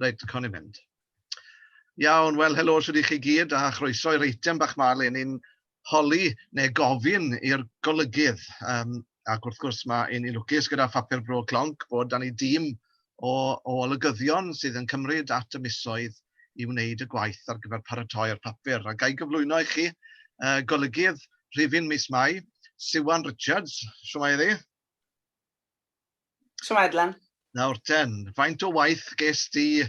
Reit, cawn ni fynd. Iawn, wel, helo sydd i chi gyd a chroeso i'r eitem bach ma le ni'n holi neu gofyn i'r golygydd. Um, ac wrth gwrs mae un i lwcus gyda phapur bro clonc bod dan ni dîm o, o olygyddion sydd yn cymryd at y misoedd i wneud y gwaith ar gyfer paratoi'r papur. A gael gyflwyno i chi uh, golygydd rhifin mis Mai, Siwan Richards. Siwmai iddi? Siom Edlen. Nawr ten, faint o waith ges di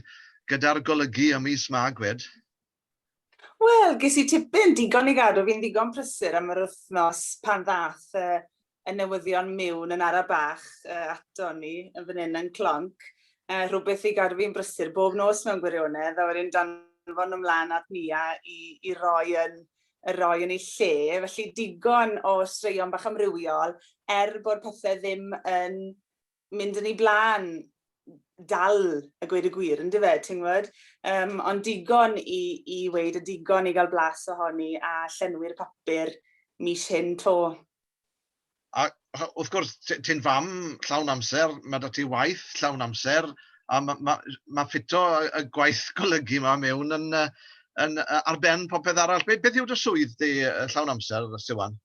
gyda'r golygu ym mis Mag fed? Wel, ges i tipyn digon i gadw fi'n ddigon prysur am yr wythnos pan ddath y, y newyddion miwn yn ara bach uh, ato ni yn fan hyn yn clonc. Uh, rhywbeth i gadw fi'n brysur bob nos mewn gwirionedd, a wedyn danfon ymlaen at Nia i, i roi yn y roi yn ei lle, felly digon o straeon bach amrywiol, er bod pethau ddim yn mynd yn ei blaen dal a gweud y gwir, ynddo fe, ti'n gwybod? Um, ond digon i, i weid a digon i gael blas ohoni a llenwi'r papur mis hyn to. A wrth gwrs, ti ti'n fam llawn amser, mae 'da ti waith llawn amser, a ma' ma' ma' ffito y y gwaith golygu 'ma mewn yn yy yn yy ar ben popeth arall. Be' beth yw dy swydd di yy llawn amser, Siwan?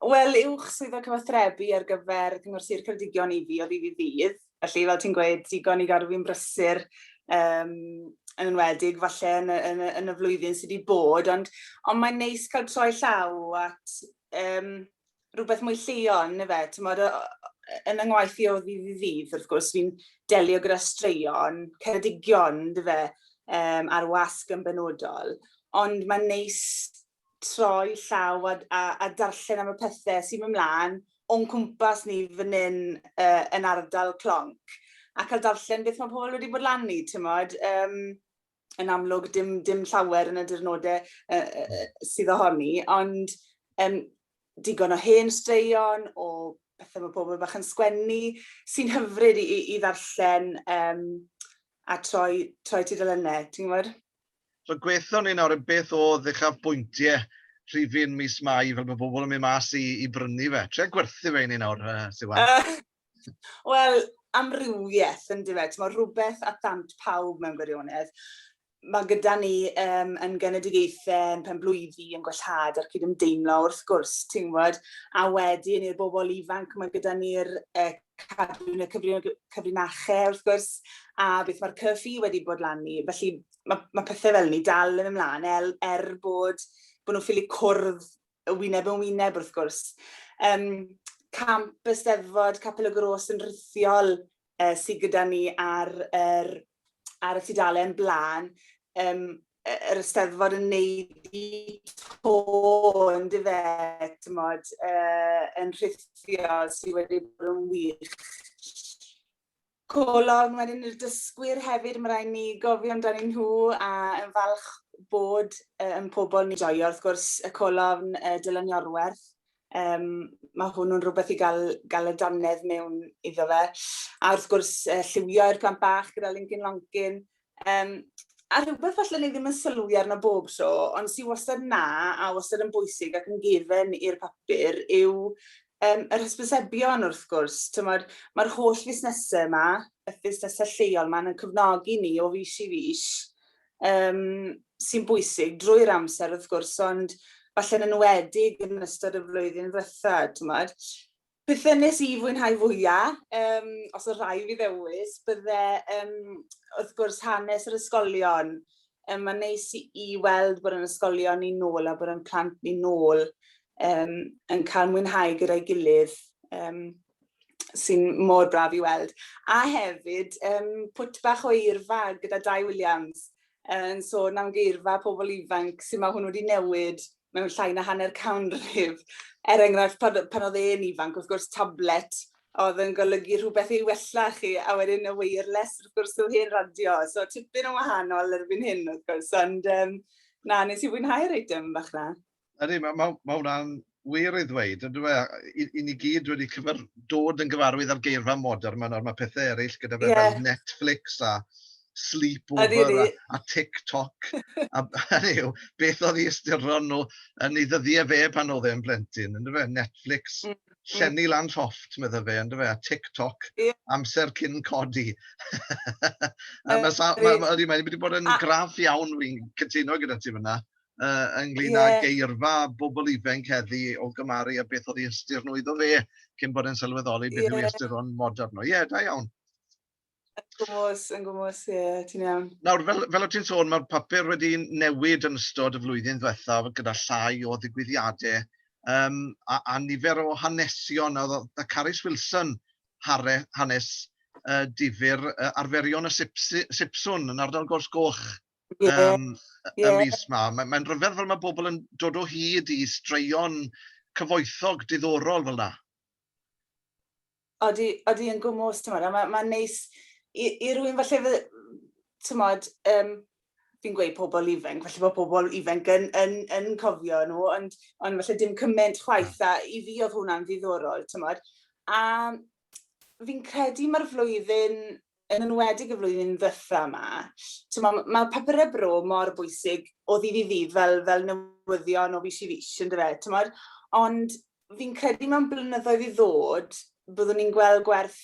Wel, uwch swyddog cyfathrebu ar gyfer Cyngor Sir Ceredigion i fi o ddydd i ddydd, felly fel ti'n gweud, digon i gadw fi'n brysur, yym yn enwedig falle yn y yn y yn y flwyddyn sy' 'di bod, ond ond mae'n neis cael troi llaw at um, rhywbeth mwy lleol, neu fe, ti'n modd, yn yng ngwaith i o ddydd i ddydd, wrth gwrs, fi'n delio gyda straeon, ceredigion, dy fe, um, ar wasg yn benodol, ond mae'n neis troi llaw a, a, a darllen am y pethau sy'n mynd mlaen o'n cwmpas ni fan hyn uh, yn ardal Clonc a cael darllen beth mae pobl wedi bod lan i, ti'n modd. Um, yn amlwg dim, dim llawer yn y dirnodau uh, uh, sydd ohoni, ond um, digon o hen straeon, o bethau mae pobl bach yn sgwennu, sy'n hyfryd i, i, i ddarllen um, a troi, troi tudalennau, ti'n gwybod? So gweithio ni nawr yn beth o ddechaf bwyntiau rhifin mis Mai fel bod bobl yn mynd mas i, i brynu fe. Tre gwerthu fe i ni nawr, uh, Siwan. Uh, Wel, amrywieth yndyw e, t'mod rhywbeth at ddant pawb mewn gwirionedd. Mae gyda ni um, yn genedigaethau, yn penblwyddi, yn gwellhad a'r cydymdeimlo wrth gwrs, ti'n gwybod, a wedyn i'r bobl ifanc mae gyda ni'r uh, cadw yn y cyfrinachau wrth gwrs, a beth mae'r cyffi wedi bod lan ni. Felly mae, mae pethau fel ni dal yn ymlaen er, er bod, bod nhw'n ffili cwrdd wyneb yn wyneb wrth gwrs. Um, camp Eisteddfod Capel y Gros yn rhithiol uh, sydd gyda ni ar, er, ar y tudalen blaen, um, yr Eisteddfod yn neud i to yn dyfe, tymod, uh, yn rhithiol sydd wedi bod yn wych. Colofn wedyn i'r dysgwyr hefyd, mae rhaid ni gofio amdani nhw a yn falch bod uh, yn pobl ni joio. Wrth gwrs, y colofn uh, Dylan Iorwerth, um, mae hwnnw'n rhywbeth i gael, gael y dannedd mewn iddo fe. A wrth gwrs, uh, lliwio i'r plant bach gyda Lincoln Lonkin, Um, a rhywbeth falle ni ddim yn sylwi arno bob tro, ond sy'n wastad na a wastad yn bwysig ac yn gefen i'r papur yw um, yr hysbysebion wrth gwrs. Mae'r ma holl fusnesau yma, y fusnesau lleol yma, yn cyfnogi ni o fus i fus um, sy'n bwysig drwy'r amser wrth gwrs, ond falle yn enwedig yn ystod y flwyddyn ddiwetha, ti'n Beth wnes i fwynhau fwya'? Yym os o' rhai' fi ddewis bydde yym wrth gwrs hanes yr ysgolion, yym ma'n neis i i weld bod 'yn ysgolion ni nôl a bod 'yn plant ni nôl yym yn ca'l mwynhau gyda'i gilydd yym sy'n mor braf i weld. A hefyd yym pwt bach o eirfa gyda Dai Williams yn sôn am geirfa pobol ifanc, su' ma' hwnnw 'di newid mewn llai na hanner canrif. Er enghraifft, pan, pan oedd e'n ifanc, wrth gwrs, tablet oedd yn golygu rhywbeth i wella chi, a wedyn y wireless, wrth gwrs, yw hen radio. So, tipyn yn wahanol erbyn hyn, wrth gwrs, ond um, na, nes i fwynhau'r eitem bach na. Ydy, mae ma, ma hwnna'n wir ei ddweud, ond dweud, i, i ni gyd wedi cyfer, dod yn gyfarwydd â'r geirfa modern, mae, mae pethau eraill gyda fe yeah. fel Netflix a sleepover a, a TikTok. a, hynny yw, beth oedd ei ystyron nhw yn ei ddyddiau fe pan oedd e'n blentyn, ynddo fe? Netflix, mm, mm. llenni mm. lan llofft, medda fe, ynddo fe? A TikTok, yeah. amser cyn codi. a mae sa, ma, ma, ma, wedi bod yn graf iawn, fi'n cytuno gyda ti fyna, uh, ynglyn yeah. â geirfa bobl ifanc heddi o gymaru a beth oedd ei ystyr nhw iddo fe cyn bod yn sylweddoli beth yeah. yw ei ystyr o'n modern nhw. Ie, yeah, da iawn. Yn gwmwys, yn gwmwys, ie, yeah, ti'n iawn. Nawr, fel, fel o ti'n sôn, mae'r papur wedi newid yn ystod y flwyddyn ddiwethaf gyda llai o ddigwyddiadau um, a, a nifer o hanesion. A, a Carys Wilson, hare, hanes uh, difyr uh, arferion y sipsi, sipswn yn ardal Gors Goch yeah. um, yeah. y mis yma. Mae'n mae rhyfedd fel mae bobl yn dod o hyd i straeon cyfoethog diddorol fel yna. Odi, odi yn gwmws, ti'n meddwl, mae'n ma neis i, i rwy'n falle, ti'n meddwl, um, fi'n gweud pobl ifanc, falle bod pobl ifanc yn, yn, yn cofio nhw, ond, ond falle dim cymaint chwaith, a i fi oedd hwnna'n ddiddorol, tymod. A fi'n credu mae'r flwyddyn yn enwedig y flwyddyn ddiwetha' 'ma, t'mo' m- ma' papure bro mor bwysig o ddydd i ddydd fel fel newyddion o fis i fis on'd yfe t'mod? Ond fi'n credu mewn blynyddoedd i ddod byddwn ni'n gweld gwerth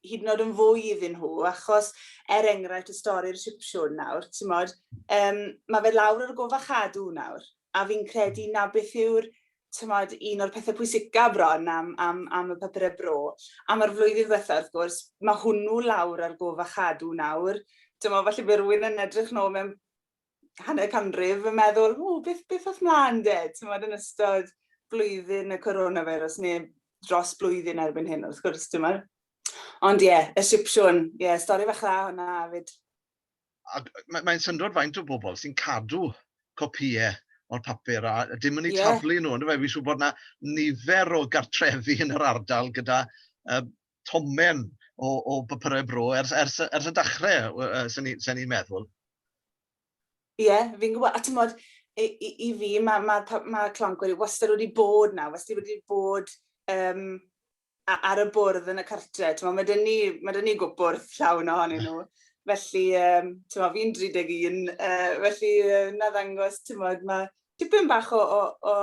hyd yn o'd yn fwy iddyn nhw achos er enghraifft y stori'r Sipsiwn nawr t'mod yym ma' fe lawr ar y gof a chadw nawr a fi'n credu 'na beth yw'r timod, un o'r pethe pwysica bron am am am y papure bro, am yr flwyddyn ddwetha wrth gwrs, ma' hwnnw lawr ar gof a chadw nawr. T'mo' falle by' rywun yn edrych nôl mewn hanner canrif yn meddwl ww beth beth ath mlan 'de t'mod yn ystod blwyddyn y coronavirus ne' dros blwyddyn erbyn hyn wrth gwrs t'mod. Ond ie, y Sipsiwn, ie stori fach dda hwnna 'fyd. a mae'n mae syndod faint o bobl sy'n cadw copïau o'r papur a dim yn ei yeah. taflu nhw. Ond fe, fi'n siŵr bod yna nifer o gartrefi yn yr ardal gyda uh, tomen o, o bapurau bro ers, ers, ers y dechrau, uh, sy'n ni'n ni meddwl. Ie, yeah, fi'n gwybod, a ti'n bod, i, i, i fi, mae ma, ma, ma Clongwyr wastad wedi bod na, wastad wedi bod um, ar y bwrdd yn y cartre. Tewa, mae dyn ni, mae dyn ni gwbwrdd llawn ohonyn nhw. Felly, um, tewa, fi'n 31, uh, felly uh, na ddangos, tewa, mae tipyn bach o'r o, o,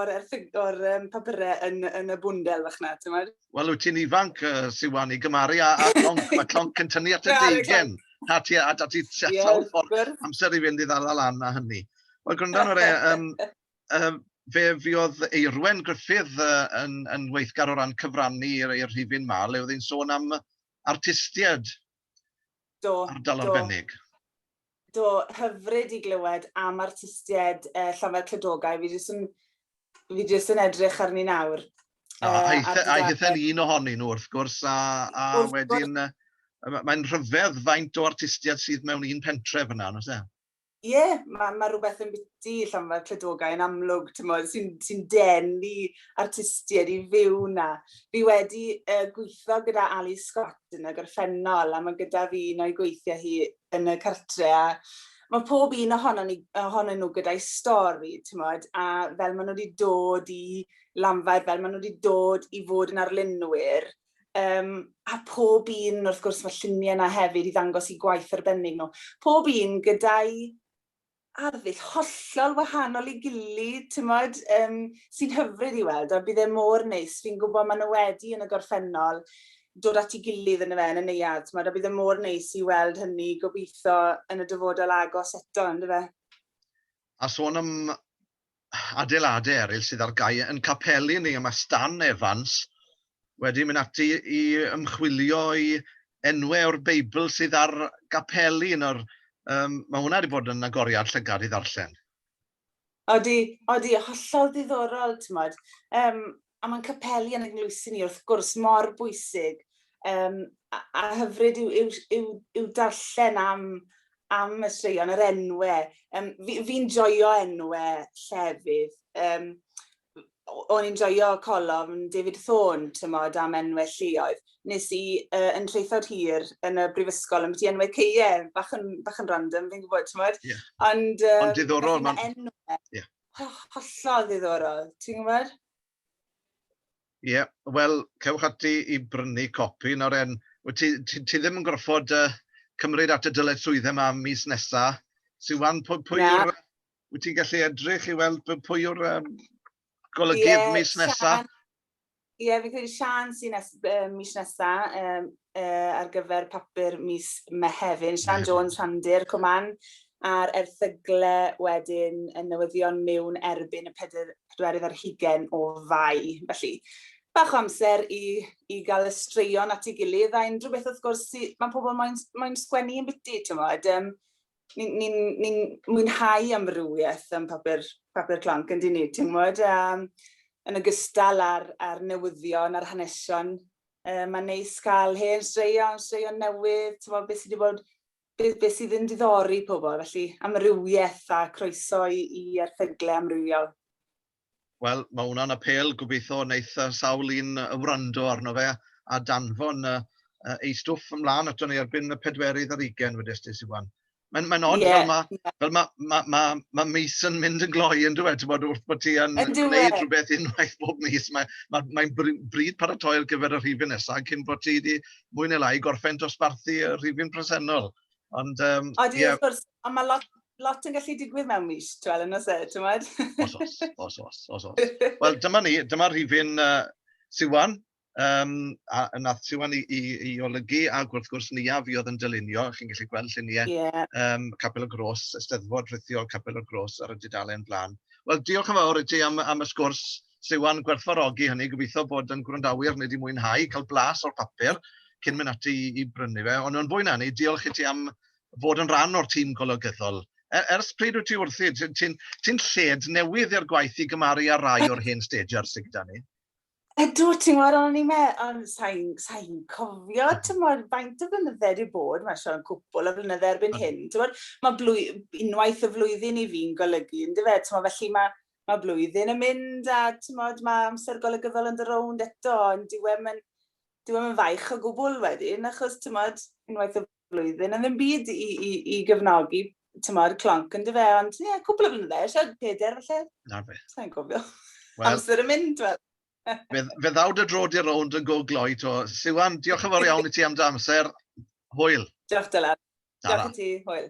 or um, papurau yn, yn y bwndel fach na, tewa. Wel, wyt ti'n ifanc, uh, Siwan, i gymaru a, a clonc, mae clonc yn tynnu at y deigen. A ti, a ti sawl ffordd amser i fynd i ddala lan a hynny. Wel, gwrando ar e, um, yym fe fuodd Eirwen Gruffydd yy yn yn weithgar o ran cyfrannu i'r i'r rhifyn 'ma le oedd hi'n sôn am artistiaid... Do. ...ardal arbennig. Do, hyfryd i glywed am artistiaid yy Llafar Clydogau, fi jyst yn fi jyst yn edrych arni nawr yy ar dudalen... Aeth e aeth e'n un ohonyn nhw wrth gwrs a a wedyn yy mae'n rhyfedd faint o artistiaid sydd mewn un pentre fan'na yn oes e? Ie, yeah, mae ma rhywbeth yn biti llonfa cledogau yn amlwg, sy'n sy denu artistiaid i fyw na. Fi wedi uh, gweithio gyda Ali Scott yn y gorffennol, a mae gyda fi un o'i gweithiau hi yn y cartre, a mae pob un ohonon, ni, ohonon nhw gyda'i stori, tymod, a fel maen nhw wedi dod i lanfau, fel maen nhw wedi dod i fod yn arlunwyr, Um, a pob un, wrth gwrs, mae lluniau yna hefyd i ddangos i gwaith arbennig nhw. Pob un gyda'i arddull hollol wahanol i gilydd, ti'n modd, um, sy'n hyfryd i weld, a bydd e mor neis. Fi'n gwybod maen nhw wedi yn y gorffennol dod at ei gilydd yn y fe, yn y neuad, ti'n modd, a bydd e mor neis i weld hynny gobeithio yn y dyfodol agos eto, yn y fe. A sôn am adeiladau eraill sydd ar gau yn capeli ni. Mae Stan Evans wedi mynd ati i ymchwilio i enwau o'r Beibl sydd ar gapeli. Nawr, um, mae hwnna wedi bod yn agoriad llygad i ddarllen. Odi, odi, hollol ddiddorol, ti'n modd. Um, a mae'n capeli yn ein ngloesyn ni wrth gwrs mor bwysig um, a, a hyfryd yw, yw, yw, yw darllen am, am y straeon, yr enwe. Um, Fi'n fi joio enwe llefydd. Um, o'n i'n joio colof yn David Thorne, tymod, am enwau lleoedd. Nes i uh, yn treithod hir yn y brifysgol, yn beth i enwau ceie, bach yn, bach yn random, fi'n gwybod, tymod. Yeah. Ond, um, Ond diddorol, mae'n... Yeah. hollol ddiddorol, ti'n gwybod? Ie, yeah, wel, cewch ati i brynu copi. Nawr, en, ti, ti, ti ddim yn gorfod uh, cymryd at y dyled swydd yma mis nesa. Siwan, pwy, pwy yeah. yw'r... Wyt ti'n gallu edrych i weld pwy yw'r um, golygydd yeah, mis nesa? Ie, fi'n credu Siân sy'n nes- yy mis nesa yym yy ar gyfer papur mis Mehefin, Siân Jones, Rhandir, Cwman, a'r erthygle wedyn yn newyddion mewn erbyn y peder- pedwerydd ar hugen o Fai. Felly, bach o amser i i ga'l y straeon at ei gilydd a unrhyw beth wrth gwrs sy- ma' pobol moyn s- moyn sgwennu yn biti t'mod yym ni'n ni ni mwynhau amrywiaeth yn papur, papur clonc yn dyn ni, ti'n gwybod, um, yn ogystal â'r, ar newyddion a'r hanesion. Uh, mae'n neis cael hen straeon, straeon newydd, ti'n gwybod, beth sydd wedi bod beth, beth sydd yn diddori pobl, felly amrywiaeth a croeso i, i erthyglau amrywiol. Wel, mae hwnna'n apêl, gobeithio wneith yy sawl un yy wrando arno fe a danfon yy yy ei stwff ymlaen ato ni erbyn y pedwerydd ar ugain wedest ti, Siwan. Mae'n mae'n od fel ma' fel ma' ma' ma' ma' mis yn mynd yn gloi yndyw e, t'mod wrth bod ti yn gwneud rhywbeth unwaith bob mis, mae ma' mae'n br- bryd paratoi ar gyfer y rhifyn nesa cyn bod ti 'di mwy ne' lai gorffen dosbarthu y rhifyn presennol. Ond, um, Odi, yeah. wrth gwrs, ond mae lot, lot yn gallu digwydd mewn mis, ti'n meddwl, yn oes e, ti'n meddwl? Os, os, os, os, os, os. Wel, dyma ni, dyma rhifyn uh, Siwan, um, a, a nath Siwan i, i, i olygu, a wrth gwrs ni a fi oedd yn dylunio, chi'n gallu gweld lluniau yeah. um, Capel y Gros, Ysteddfod Rhithiol Capel y Gros ar y dudalen blaen. Wel, diolch yn fawr i ti am, am y sgwrs, Siwan gwerthfawrogi hynny, gobeithio bod yn gwrandawyr neu 'di mwynhau cael blas o'r papur cyn mynd ati i, i brynu fe. Ond yn fwy na ni, diolch i ti am fod yn rhan o'r tîm golygyddol. Er, ers pryd wyt ti wrthi? Ti'n ti, ti lled newydd i'r gwaith i gymaru â rai o'r hen stager sydd gyda ni. Ydw, ti'n gwybod, o'n i'n meddwl, ond sa'n sa cofio, ti'n gwybod, faint o flynydde wedi bod, mae'n siarad cwpl o flynydde erbyn hyn, ti'n gwybod, mae blwy, unwaith y flwyddyn i fi'n golygu, yn dyfe, ti'n gwybod, felly mae, Mae blwyddyn yn mynd a timod, mae amser golygyddol yn dy rownd eto, ond dyw e'm yn, dyw e'm yn faich o gwbl wedyn, achos timod, unwaith y flwyddyn yn ddim byd i, i, i gefnogi tymor clonc yn dyfe, ond ie, yeah, cwbl o flynydde, siarad peder felly. Na fe. Sa'n gofio. Well, Amser yn mynd, wel. fe, fe ddaw dy drod i'r rownd yn go gloi to. Siwan, diolch yn fawr iawn i ti am dy amser. Hwyl. Diolch Dylan. Diolch i ti, hwyl.